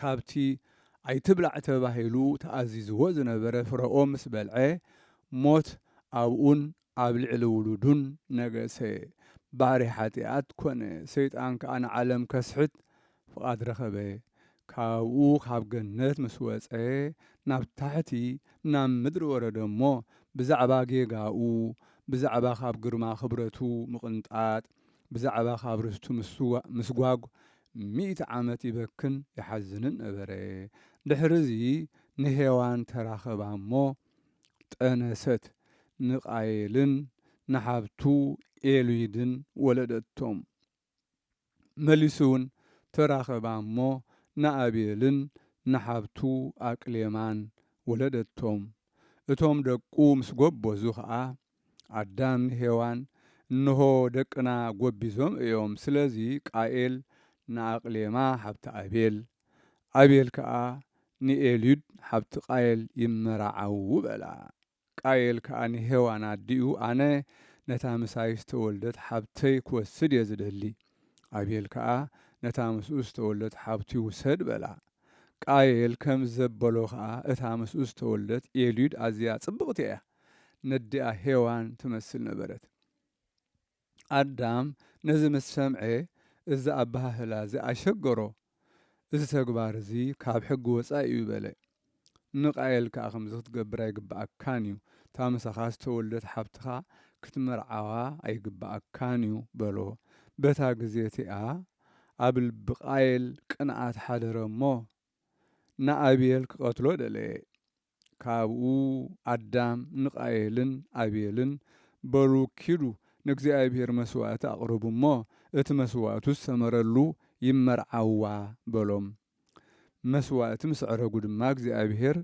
ካብቲ ኣይትብላዕ ተባሂሉ ተኣዚዝዎ ዝነበረ ፍረኦ ምስ በልዐ፣ ሞት ኣብኡን ኣብ ልዕሊ ውሉዱን ነገሰ። ባርያ ሓጢኣት ኰነ፣ ሰይጣን ከኣ ንዓለም ከስሕት ፍቓድ ረኸበ። ካብኡ ካብ ገነት ምስ ወጸ፣ ናብ ታሕቲ ናብ ምድሪ ወረደ እሞ፣ ብዛዕባ ጌጋኡ፣ ብዛዕባ ካብ ግርማ ክብረቱ ምቕንጣጥ፣ ብዛዕባ ካብ ርስቱ ምስጓግ ሚእቲ ዓመት ይበክን ይሓዝንን ነበረ። ድሕርዚ ንሄዋን ተራኸባ እሞ ጠነሰት፣ ንቃየልን ንሓብቱ ኤሉይድን ወለደቶም። መሊሱውን ተራኸባ እሞ ንኣቤልን ንሓብቱ ኣቅሌማን ወለደቶም። እቶም ደቁ ምስ ጎበዙ ኸኣ ኣዳም ሄዋን እንሆ ደቅና ጎቢዞም እዮም ስለዚ ቃኤል ንኣቅሌማ ሓብቲ ኣቤል ኣቤል ከኣ ንኤልዩድ ሓብቲ ቃየል ይመራዓዉ በላ ቃየል ከኣ ንሄዋን ኣዲኡ ኣነ ነታ ምሳይ ዝተወልደት ሓብተይ ክወስድ እየ ዝደሊ ኣቤል ከኣ ነታ ምስኡ ዝተወልደት ሓብቱ ይውሰድ በላ ቃየል ከምዘበሎ ከኣ እታ ምስኡ ዝተወልደት ኤልዩድ ኣዝያ ጽብቅቲ እያ ነዲኣ ሄዋን ትመስል ነበረት። ኣዳም ነዚ ምስ ሰምዐ እዚ ኣበሃህላ እዚ ኣሸገሮ። እዚ ተግባር እዚ ካብ ሕጊ ወጻኢ እዩ በለ። ንቃየል ከኣ ከምዚ ክትገብር ኣይግብኣካን እዩ፣ እታ ምሳኻ ዝተወልደት ሓብትኻ ክትምርዓዋ ኣይግብኣካን እዩ በሎ። በታ ግዜ እቲኣ ኣብ ልቢ ቃየል ቅንኣት ሓደረ እሞ ንኣቤል ክቐትሎ ደለየ። ካብኡ ኣዳም ንቃየልን ኣቤልን፣ በሉ ኪዱ ንእግዚኣብሄር መስዋእቲ ኣቕርቡ እሞ፣ እቲ መስዋእቱ ዝሰመረሉ ይመርዓዋ፣ በሎም። መስዋእቲ ምስ ኣዕረጉ ድማ እግዚኣብሄር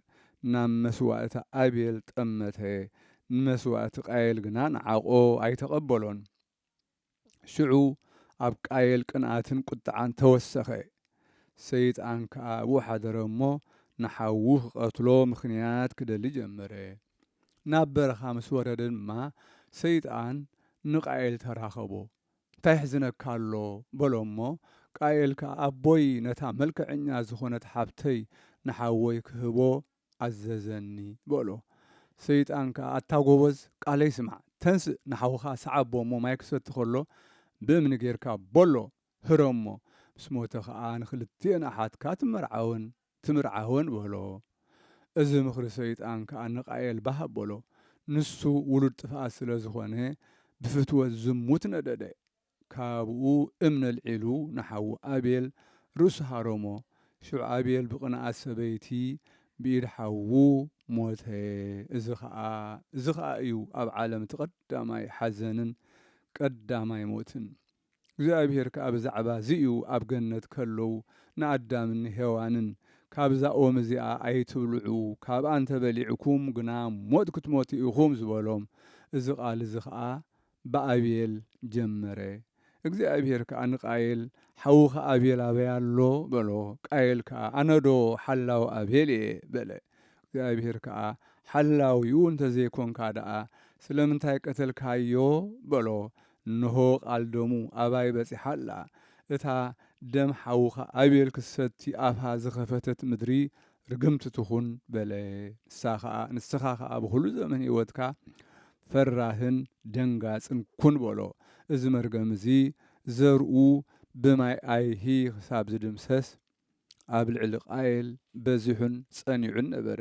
ናብ መስዋእቲ ኣቤል ጠመተ፣ ንመስዋእቲ ቃየል ግና ንዓቖ ኣይተቐበሎን። ሽዑ ኣብ ቃየል ቅንኣትን ቍጥዓን ተወሰኸ። ሰይጣን ከኣ ኣብኡ ሓደረ እሞ፣ ንሓዉ ኺቐትሎ ምኽንያት ኪደሊ ጀመረ። ናብ በረኻ ምስ ወረደ ድማ፣ ሰይጣን ንቃየል ተራኸቦ። እንታይ የሕዝነካ ኣሎ? በሎ እሞ፣ ቃየል ከኣ ኣቦይ ነታ መልክዐኛ ዝዀነት ሓብተይ ንሓወይ ክህቦ ኣዘዘኒ በሎ። ሰይጣን ከኣ ኣታ ጐበዝ ቃለይ ስማዕ፣ ተንስእ ንሓውኻ ስዓቦ እሞ ማይ ክሰቲ ከሎ ብእምኒ ጌርካ በሎ ህረሞ፣ ምስ ሞተ ኸኣ ንኽልቲኤን ኣሓትካ ትመርዓወን ትምርዓወን በሎ። እዚ ምኽሪ ሰይጣን ከኣ ንቃኤል ባህ ኣበሎ። ንሱ ውሉድ ጥፍኣት ስለ ዝኾነ ብፍትወት ዝሙት ነደደ። ካብኡ እምኒ ኣልዒሉ ንሓዉ ኣቤል ርእሱ ሃረሞ፣ ሽዑ ኣቤል ብቕንኣት ሰበይቲ ብኢድ ሓዉ ሞተ፣ እዚ ኸኣ እዚ ኸኣ እዩ ኣብ ዓለም እቲ ቐዳማይ ሓዘንን ቀዳማይ ሞትን። እግዚኣብሄር ከኣ ብዛዕባ እዚ እዩ ኣብ ገነት ከለዉ ንኣዳምን ንሄዋንን ካብዛ ኦም እዚኣ ኣይትብልዑ ካብኣ እንተ በሊዕኩም ግና ሞት ክትሞቱ ኢኹም ዝበሎም፣ እዚ ቓል እዚ ኸኣ ብኣቤል ጀመረ። እግዚኣብሄር ከኣ ንቃየል፣ ሓውኻ ኣቤል ኣበይ ኣሎ? በሎ። ቃየል ከኣ፣ ኣነዶ ሓላው ኣቤል እየ፣ በለ። እግዚኣብሄር ከኣ፣ ሓላዊኡ እንተ ዘይኰንካ ደኣ፣ ስለምንታይ ቀተልካዮ? በሎ። እንሆ፣ ቓል ደሙ ኣባይ በጺሓ ኣላ። እታ ደም ሓውኻ ኣቤል ክትሰቲ ኣፋ ዝኸፈተት ምድሪ፣ ርግምቲ ትኹን በለ። ንሳ ኸኣ ንስኻ ኸኣ ብዅሉ ዘመን ህይወትካ ፈራህን ደንጋጽን ኩን በሎ። እዚ መርገም እዚ ዘርኡ ብማይ ኣይሂ ኽሳብ ዚድምሰስ ኣብ ልዕሊ ቃየል በዚሑን ጸኒዑን ነበረ።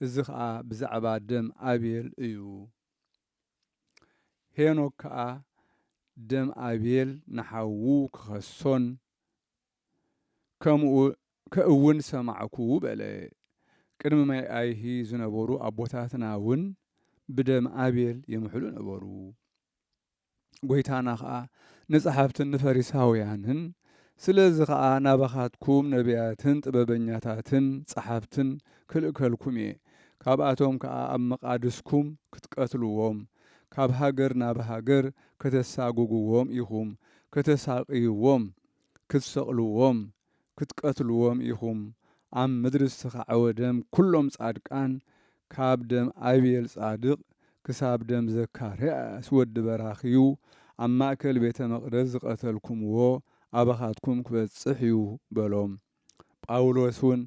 እዚ ኸኣ ብዛዕባ ደም ኣቤል እዩ። ሄኖክ ከኣ ደም ኣቤል ንሓዉ ኪኸሶን ከምኡ ከእውን ሰማዕኩ በለ። ቅድሚ መይኣይሂ ዝነበሩ ኣቦታትና እውን ብደም ኣቤል ይምሕሉ ነበሩ። ጐይታና ኸኣ ንጸሓፍትን ንፈሪሳውያንን ስለዚ ኸኣ ናባኻትኩም ነብያትን ጥበበኛታትን ጸሓፍትን ክልእከልኩም እየ፣ ካብኣቶም ከኣ ኣብ መቓድስኩም ክትቀትልዎም፣ ካብ ሃገር ናብ ሃገር ከተሳጕግዎም ኢኹም፣ ከተሳቕይዎም ክትሰቅልዎም ክትቀትልዎም ኢኩም ኣብ ምድሪ ዝተካዕወ ደም ኩሎም ጻድቃን ካብ ደም ኣቤል ጻድቅ ክሳብ ደም ዘካርያስ ወዲ በራክዩ ኣብ ማእከል ቤተ መቅደስ ዝቀተልኩምዎ ኣባካትኩም ክበጽሕ እዩ በሎም ጳውሎስ ውን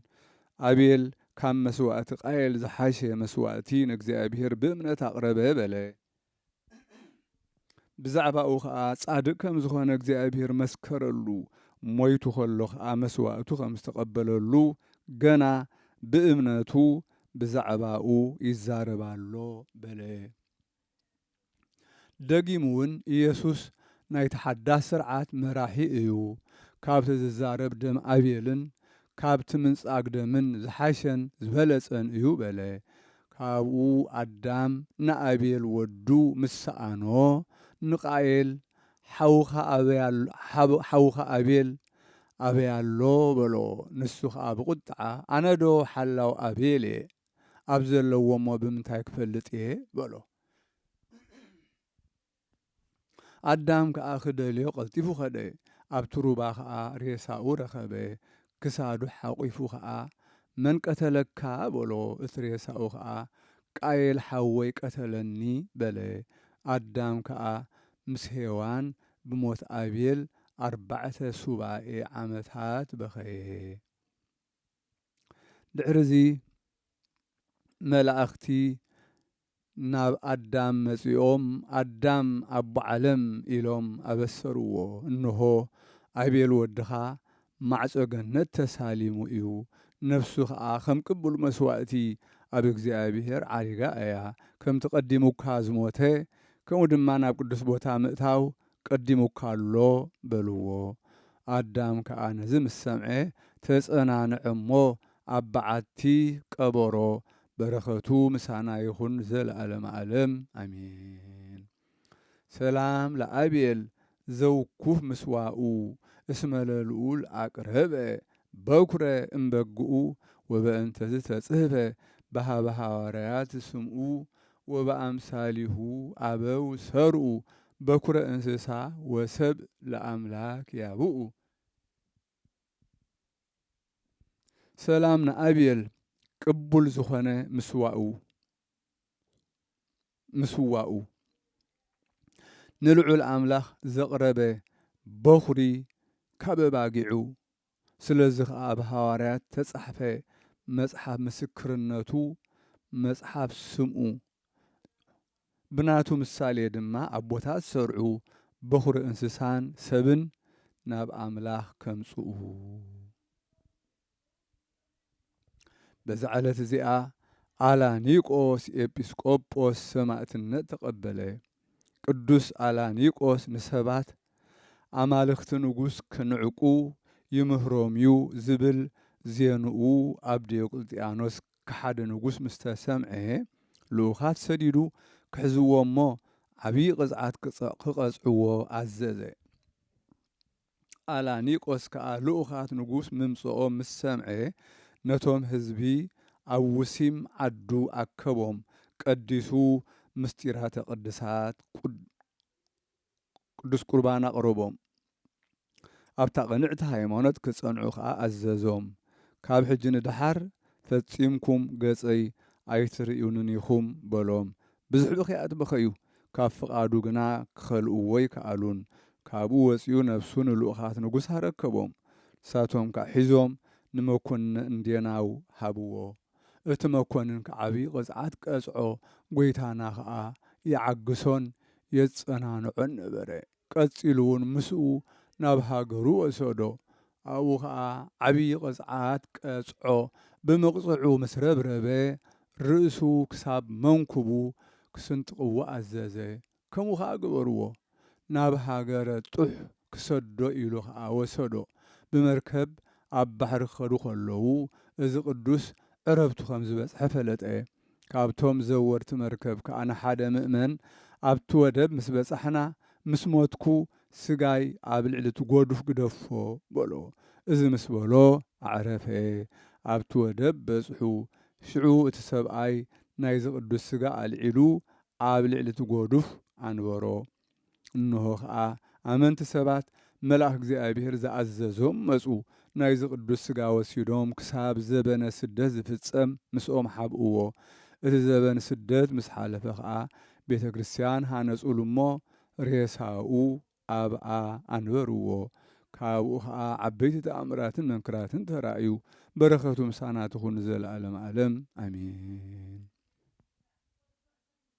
ኣቤል ካብ መስዋእቲ ቃየል ዝሓሸ መስዋእቲ ንእግዚኣብሄር ብእምነት ኣቅረበ በለ ብዛዕባኡ ኸኣ ጻድቅ ከም ዝኾነ እግዚኣብሔር መስከረሉ፣ ሞይቱ ኸሎ ኸኣ መስዋእቱ ከም ዝተቐበለሉ ገና ብእምነቱ ብዛዕባኡ ይዛረብ ኣሎ በለ። ደጊምውን ኢየሱስ ናይቲ ሓዳስ ሥርዓት መራሒ እዩ፣ ካብቲ ዝዛረብ ደም ኣቤልን ካብቲ ምንጻግ ደምን ዝሓሸን ዝበለጸን እዩ በለ። ካብኡ ኣዳም ንኣቤል ወዱ ምስ ሰኣኖ፣ ንቃኤል፣ ሓውኻ ኣቤል ኣበይ ኣሎ? በሎ። ንሱ ኸኣ ብቝጥዓ፣ ኣነዶ ሓላው ኣቤል እየ፣ ኣብ ዘለዎ እሞ ብምንታይ ክፈልጥ እየ? በሎ። ኣዳም ከኣ ክደልዮ ቀልጢፉ ከደ፣ ኣብቲ ሩባ ከኣ ሬሳኡ ረኸበ፣ ክሳዱ ሓቝፉ ከኣ፣ መን ቀተለካ? በሎ፣ እቲ ሬሳኡ ከኣ፣ ቃየል ሓወይ ቀተለኒ፣ በለ። ኣዳም ከኣ ምስ ሄዋን ብሞት ኣቤል ኣርባዕተ ሱባኤ ዓመታት በኸየ። ድሕርዚ መላእኽቲ ናብ ኣዳም መጺኦም ኣዳም ኣቦ ዓለም ኢሎም ኣበሰርዎ እንሆ ኣቤል ወድኻ ማዕጾ ገነት ተሳሊሙ እዩ ነፍሱ ከኣ ከም ቅቡል መስዋእቲ ኣብ እግዚኣብሔር ዓሪጋ እያ ከምቲ ቀዲሙካ ዝሞተ ከምኡ ድማ ናብ ቅዱስ ቦታ ምእታው ቀዲሙካ ኣሎ በልዎ። ኣዳም ከኣ ነዚ ምስ ሰምዐ ተጸናንዐ እሞ ኣብ በዓቲ ቀበሮ። በረኸቱ ምሳና ይኹን ዘለኣለመ ኣለም ኣሜን። ሰላም ለኣቤል ዘውኩፍ ምስዋኡ እስመ ለልኡል ኣቅረበ በኩረ እምበግኡ ወበእንተዝ ተጽህፈ በኀበ ሐዋርያት ስምኡ ወበኣምሳሊሁ ኣበው ሰርኡ በኵረ እንስሳ ወሰብእ ለኣምላክ ያብኡ። ሰላም ንኣቤል ቅቡል ዝኾነ ምስዋኡ ምስዋኡ ንልዑል ኣምላኽ ዘቕረበ በዅሪ ካብ ኣባጊዑ ስለዚ ኸኣ ኣብ ሃዋርያት እተጻሕፈ መጽሓፍ ምስክርነቱ፣ መጽሓፍ ስምኡ፣ ብናቱ ምሳሌ ድማ ኣቦታት ሰርዑ በዅሪ እንስሳን ሰብን ናብ ኣምላኽ ከምጽኡ፣ በዛ ዕለት እዚኣ ኣላኒቆስ ኤጲስቆጶስ ሰማእትነት ተቐበለ። ቅዱስ ኣላኒቆስ ንሰባት ኣማልኽቲ ንጉሥ ክንዕቁ ይምህሮም እዩ ዝብል ዜንኡ ኣብ ዲዮቅልጥያኖስ ከሓዲ ንጉሥ ምስ ተሰምዔ ልኡኻት ሰዲዱ ክሕዝዎ እሞ ዓቢይ ቕጽዓት ክቐጽዕዎ ኣዘዘ። ኣላኒቆስ ከኣ ልኡኻት ንጉስ ምምጽኦም ምስ ሰምዐ፣ ነቶም ህዝቢ ኣብ ውሲም ዓዱ ኣከቦም፣ ቀዲሱ ምሥጢራተ ቅድሳት፣ ቅዱስ ቍርባን፣ ኣቕረቦም። ኣብታ ቕንዕቲ ሃይማኖት ኪጸንዑ ከኣ ኣዘዞም። ካብ ሕጂ ንደሓር ፈጺምኩም ገጸይ ኣይትርእዩንን ኢኹም በሎም። ብዝሕ'ቢ ኺኣ በኸዩ፣ ካብ ፍቓዱ ግና ኪኸልእዎ ኣይከኣሉን። ካብኡ ወጺኡ ነፍሱ ንልኡኻት ንጉስ ኣረከቦም፣ ንሳቶም ከኣ ሒዞም ንመኰንነ እንዴናው ሃብዎ። እቲ መኰንን ከኣ ዓብዪ ቕጽዓት ቀጽዖ፣ ጐይታና ኸኣ ይዓግሶን የጸናንዖን ነበረ። ቀጺሉውን ምስኡ ናብ ሃገሩ ወሰዶ። ኣብኡ ኸኣ ዓብዪ ቕጽዓት ቀጽዖ። ብምቕጽዑ ምስ ረብረበ፣ ርእሱ ክሳብ መንኵቡ ክስንጥቕዎ ኣዘዘ። ከምኡ ኸኣ ገበርዎ። ናብ ሃገረ ጡሕ ክሰዶ ኢሉ ኸኣ ወሰዶ። ብመርከብ ኣብ ባሕሪ ክኸዱ ኸለዉ፣ እዚ ቕዱስ ዕረብቱ ኸም ዝበጽሐ ፈለጠ። ካብቶም ዘወርቲ መርከብ ከኣ ንሓደ ምእመን፣ ኣብቲ ወደብ ምስ በጻሕና፣ ምስ ሞትኩ፣ ስጋይ ኣብ ልዕሊ እቲ ጐዱፍ ግደፎ፣ በሎ። እዚ ምስ በሎ ኣዕረፈ። ኣብቲ ወደብ በጽሑ። ሽዑ እቲ ሰብኣይ ናይዚ ቅዱስ ስጋ ኣልዒሉ ኣብ ልዕሊ እቲ ጐዱፍ ኣንበሮ። እንሆ ኸኣ ኣመንቲ ሰባት መልኣኽ እግዚኣብሔር ዝኣዘዞም መጹ፣ ናይዚ ቅዱስ ሥጋ ወሲዶም ክሳብ ዘበነ ስደት ዝፍጸም ምስኦም ኃብእዎ፣ እቲ ዘበን ስደት ምስ ኃለፈ ኸኣ ቤተ ክርስቲያን ኃነጹሉ እሞ ሬሳኡ ኣብኣ ኣንበርዎ፣ ካብኡ ኸኣ ዓበይቲ ተኣምራትን መንክራትን ተራእዩ፣ በረከቱ ምሳና ትኹን ንዘለዓለመ ዓለም ኣሜን።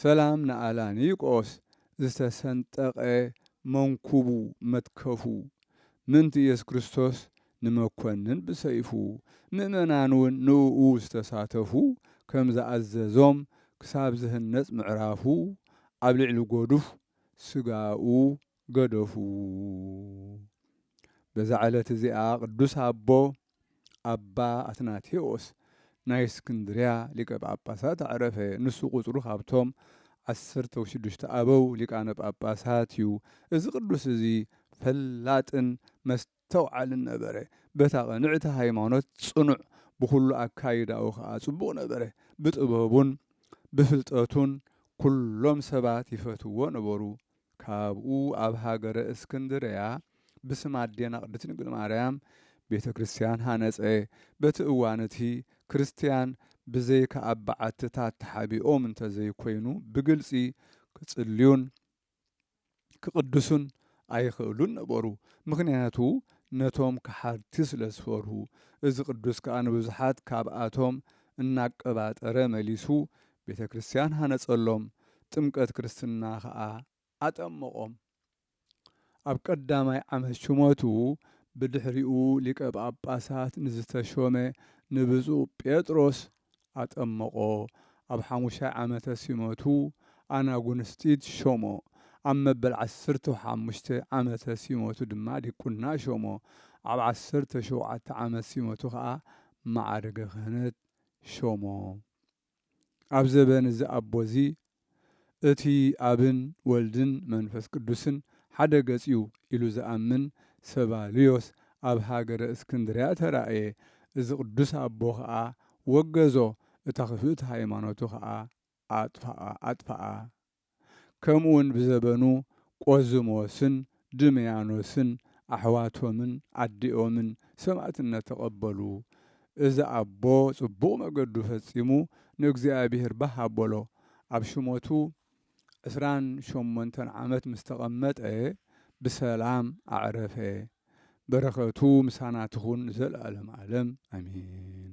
ሰላም ንኣላኒቆስ ዝተሰንጠቐ መንኩቡ መትከፉ ምእንቲ ኢየሱስ ክርስቶስ ንመኮንን ብሰይፉ ምእመናንውን ንእኡ ዝተሳተፉ ከም ዝኣዘዞም ክሳብ ዝህነጽ ምዕራፉ ኣብ ልዕሊ ጎዱፍ ስጋኡ ገደፉ። በዛ ዕለት እዚኣ ቅዱስ ኣቦ ኣባ ኣትናቴዎስ ናይ እስክንድርያ ሊቀ ጳጳሳት ኣዕረፈ። ንሱ ቁጽሩ ካብቶም ዓሰርተው ሽዱሽተ ኣበው ሊቃነ ጳጳሳት እዩ። እዚ ቅዱስ እዚ ፈላጥን ተውዓልን ነበረ። በታ ቅንዕቲ ሃይማኖት ጽኑዕ፣ ብኹሉ ኣካይዳኡ ከኣ ጽቡቕ ነበረ። ብጥበቡን ብፍልጠቱን ኩሎም ሰባት ይፈትውዎ ነበሩ። ካብኡ ኣብ ሃገረ እስክንድርያ ብስም ኣዴና ቅድስት ድንግል ማርያም ቤተ ክርስቲያን ሃነጸ። በቲ እዋን እቲ ክርስቲያን ብዘይካ ኣብ በዓትታት ተሓቢኦም እንተዘይኮይኑ ብግልጺ ክጽልዩን፣ ክቕድሱን ኣይኽእሉን ነበሩ፣ ምኽንያቱ ነቶም ከሓድቲ ስለ ዝፈርሁ። እዚ ቅዱስ ከኣ ንብዙሓት ካብኣቶም እናቀባጠረ መሊሱ ቤተ ክርስቲያን ሃነጸሎም፣ ጥምቀት ክርስትና ከኣ ኣጠመቖም። ኣብ ቀዳማይ ዓመት ሹመቱ ብድሕሪኡ ሊቀ ጳጳሳት ንዝተሾመ ንብፁዕ ጴጥሮስ ኣጠመቖ፣ ኣብ ሓሙሻይ ዓመተ ሲመቱ ኣናጉንስጢስ ሾሞ፣ ኣብ መበል ዓሰርተው ሓሙሽተ ዓመተ ሲመቱ ድማ ዲቁና ሾሞ፣ ኣብ ዓሰርተው ሸውዓተ ዓመት ሲመቱ ከኣ መዓርገ ክህነት ሾሞ። ኣብ ዘበን እዚ ኣቦ እዚ እቲ ኣብን ወልድን መንፈስ ቅዱስን ሓደ ገጽ'ዩ ኢሉ ዝኣምን ሰባልዮስ ኣብ ሃገረ እስክንድርያ ተራእየ። እዚ ቅዱስ ኣቦ ኸኣ ወገዞ፣ እታ ክፍእቲ ሃይማኖቱ ኸኣ ኣጥፍኣ። ከምኡውን ብዘበኑ ቆዝሞስን ድምያኖስን ኣሕዋቶምን ኣዲኦምን ሰማእትነት ተቀበሉ እዚ ኣቦ ጽቡቅ መገዱ ፈጺሙ ንእግዚኣብሄር ባህ ኣቦሎ ኣብ ሽሞቱ ዕስራን ሸሞንተን ዓመት ምስ ተቀመጠ ብሰላም ኣዕረፈ በረከቱ ምሳና ትኩን ንዘልኣለም ኣለም ኣሜን።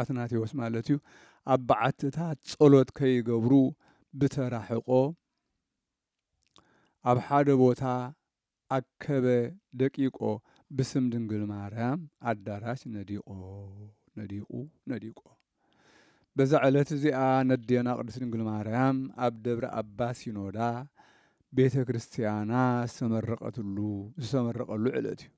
ኣትናቴዎስ ማለት እዩ ኣብ በዓትታት ጸሎት ከይገብሩ ብተራሕቆ ኣብ ሓደ ቦታ ኣከበ ደቂቆ ብስም ድንግል ማርያም ኣዳራሽ ነዲቆ ነዲቁ ነዲቆ በዛ ዕለት እዚኣ ነዴና ቅድስት ድንግል ማርያም ኣብ ደብረ ኣባ ሲኖዳ ቤተ ክርስቲያና ዝተመረቀትሉ ዝተመረቀሉ ዕለት እዩ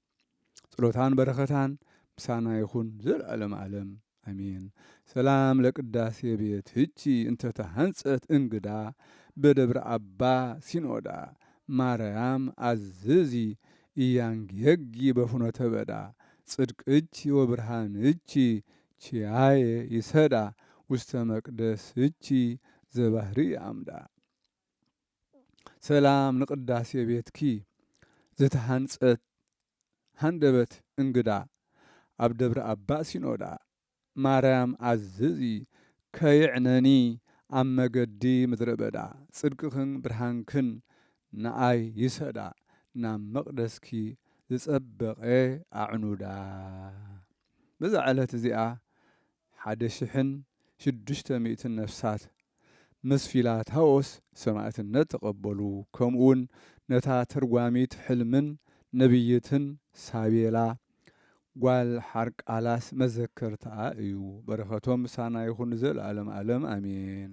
ጽሎታን በረከታን ምሳና ይኹን ዘልኣለም ኣለም ኣሜን። ሰላም ለቅዳሴ ቤት ህቺ እንተ ተሃንጸት እንግዳ በደብረ ኣባ ሲኖዳ ማረያም ኣዝዚ ኢያንጌጊ በፍኖተ በዳ ጽድቅቺ ወብርሃንቺ ቺያየ ይሰዳ ውስተ መቅደስቺ ዘባህርይ ኣምዳ። ሰላም ንቅዳሴ ቤትኪ ዝተሃንጸት ሃንደበት እንግዳ ኣብ ደብረ ኣባ ሲኖዳ ማርያም ኣዝዚ ከይዕነኒ ኣብ መገዲ ምድረ በዳ ጽድቅኽን ብርሃንክን ንኣይ ይሰዳ ናብ መቅደስኪ ዝጸበቀ ኣዕኑዳ በዛ ዕለት እዚኣ ሓደ ሽሕን ሽዱሽተ ሚእትን ነፍሳት ምስ ፊላታዎስ ሰማእትነት ተቐበሉ፣ ከምኡውን ነታ ተርጓሚት ሕልምን ነብይትን ሳቤላ ጓል ሓርቃላስ መዘከርታኣ እዩ። በረኸቶም ምሳና ይኹን ንዘለኣለም ኣለም ኣሜን።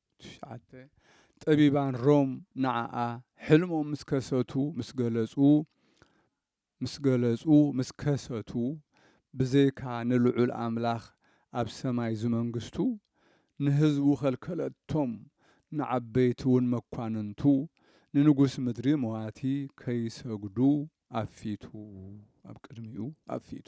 ትሽዓተ፣ ጠቢባን ሮም ንዓኣ ሕልሞም ምስ ከሰቱ፣ ምስ ገለጹ፣ ምስ ገለጹ፣ ምስ ከሰቱ፣ ብዘይካ ንልዑል ኣምላኽ ኣብ ሰማይ ዝመንግስቱ፣ ንህዝቡ ከልከለቶም፣ ንዓበይቲውን መኳንንቱ፣ ንንጉስ ምድሪ መዋቲ ከይሰግዱ ኣብ ፊቱ፣ ኣብ ቅድሚኡ፣ ኣብ ፊቱ።